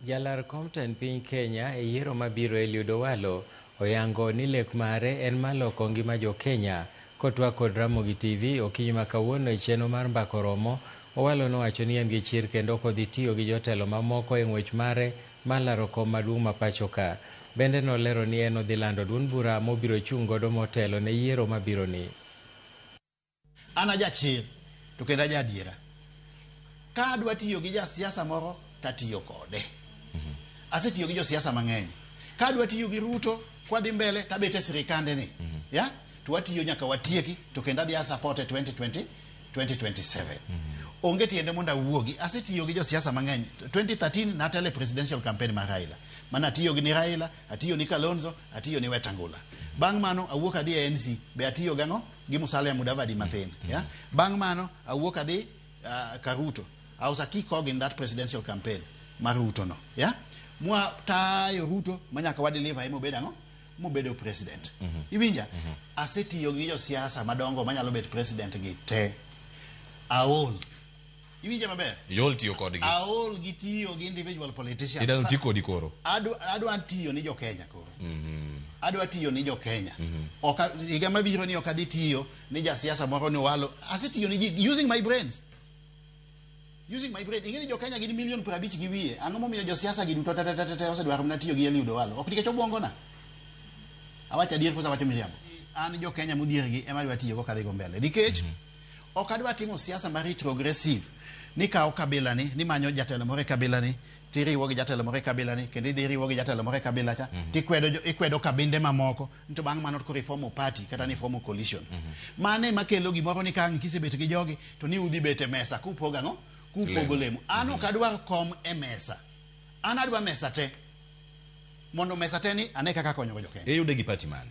Jalar kom tend piny Kenya e yiero mabiro Eliud Owalo oyango ni lek mare en mar loko ngima jo Kenya. Kotwak kod Ramogi TV okinyi ma kawuono e chenro mar Mbako Romo, Owalo nowacho ni en gi chir kendo ok odhi tiyo gi jotelo mamoko e ng'wech mare mar laro kom maduong' ma pachoka. Bende nolero ni en odhi lando duond bura mobiro chung' godo motelo ne yiero mabironi. An ajachir to kendo ajaadiera. Ka adwa tiyo gi jasiasa moro to atiyo kode. Asetiyo gi josiasa mang'eny. Ka adwa tiyo gi Ruto kwadhi mbele to abet e sirikande ni. Ya? To watiyo nyaka watieki to kendo adhi asapot e 2020 2027. Onge tiende mondo awuogi. Asetiyo gi josiasa mang'eny. 2013 natelo e presidential campaign mar Raila. Mane atiyo gi ni Raila, atiyo ni Kalonzo, atiyo ni Wetangula. Bang' mano awuok adhi e NC. Be atiyo gang'o? gi Musalia Mudavadi mathin. Mm. Yeah? Bang' mano, awuok adhi uh, Karuto. I was a key cog in that presidential campaign mar Ruto no. Yeah? Mwa tayo Ruto manyaka wa deliver him obed ang'o? Mobedo president. Mm -hmm. Iwinja? Mm -hmm. Asetiyo gi josiasa madongo manyalo bet president gi te. Aol. iwinje maber iol tiyo kodgi aol gi tiyo gi individual politician idano ti kodi koro adwa adwa tiyo ni jo Kenya koro mhm. adwa tiyo ni jo Kenya mhm. oka higa mabiro ni okadhi tiyo ni ja siasa moro ni walo asetiyo ni ji using my brains using my brain ingeni jo Kenya gin million pra bich gi wiye ang'o momiyo jo siasa gi duto tatatata osedwaro mna tiyo gi Eliud Owalo ok nikech obwongo na awacha dier kosa wacho miriambo an jo Kenya mudhier gi ema adwa tiyo go kadhi go mbele nikech mm -hmm. Ok adwa timo siasa mar retrogressive ni kawo kabila ni ni manyo jatelo moro e kabila ni tiriwo gi jatelo moro e kabila ni kendo idhi iriwo gi jatelo moro e kabila cha mhm. tikwedo ikwedo kabinde mamoko nto bang' mano koro ifomo party kata ni ifomo coalition mhm. mano ema kelo gimoro ni kang' kisebet gi jogi to ni udhi bet e mesa kupogo ang'o kupogo lemo an ok mhm. adwar kom e mesa an adwa mesa te mondo mesa te ni ane kaka konyogo jokenya iyude gi party mane